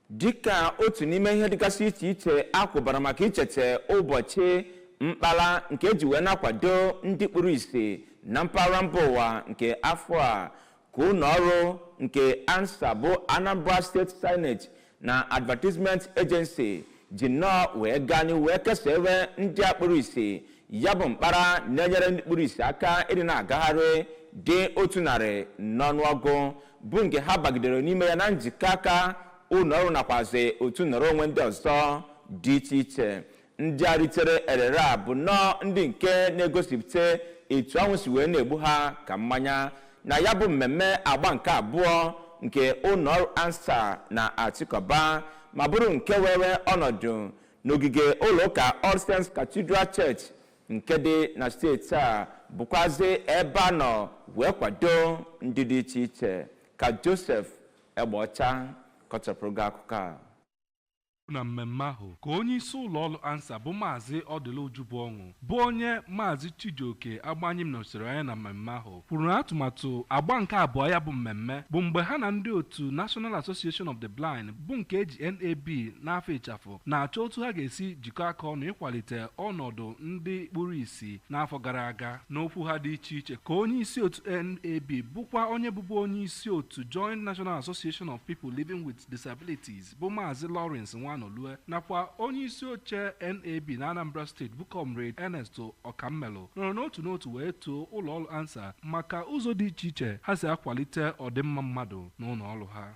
dịka otu n'ime ihe dịgasị iche iche a kwụbara maka icheta ụbọchị mkpara nke e ji wee na-akwado ndị kpuru isi na mpaghara mba ụwa nke afọ a ka ụlọ ọrụ nke ANSAA bụ Anambra State Signage na Advertisement Agency ji nnọọ wee gaa n'ihu wee kesaa ebe ndị a kpuru isi ya bụ mkpara na-enyere ndị kpuru isi aka ịdị na-agagharị dị otu narị n'ọnụọgụ bụ nke ha bagidere n'ime ya na njikọ aka ụlọ ọrụ nakwazi otu nọrọ onwe ndị ọzọ dị iche iche ndị a ritere erere a bụ nnọọ ndị nke na-egosipụta etu ọṅụ si wee na-egbu ha ka mmanya na ya bụ mmemme agba nke abụọ nke ụlọ ọrụ ANSAA na-achịkọba ma bụrụ nke were ọnọdụ n'ogige ụlọụka All Saints Cathedral Church nke dị na steeti a bụkwazi ebe a nọ wee kwadoo ndị dị iche iche ka Joseph Egbeọcha kọchapụrụ gị akụkọ a na mmemme ahụ ka onye isi ụlọ ọrụ ANSAA bụ Maazị Ọdịlị Ujubuọṅụ bụ onye Maazị Chijioke Agbanyim nọsiri anya na mmemme ahụ kwuru na atụmatụ agba nke abụọ ya bụ mmemme bụ mgbe ha na ndị otu National Association of the Blind bụ nke e ji NAB n'afa ịchafụ na-achọ otu ha ga-esi jikọ aka ọnụ ịkwalite ọnọdụ ndị kpuru isi n'afọ gara aga n'okwu ha dị iche iche ka onye isi otu NAB bụkwa onye bụbu onye isi otu Joint National Association of People Living with Disabilities bụ Maazị Lawrence Nwanolue nakwa onye isi oche NAB na Anambra steeti bụ Comrade Ernest Ọkammelụ nọrọ n'otu n'otu wee too ụlọọrụ ANSAA maka ụzọ dị iche iche ha si akwalite ọdịmma mmadụ n'ụlọọrụ ha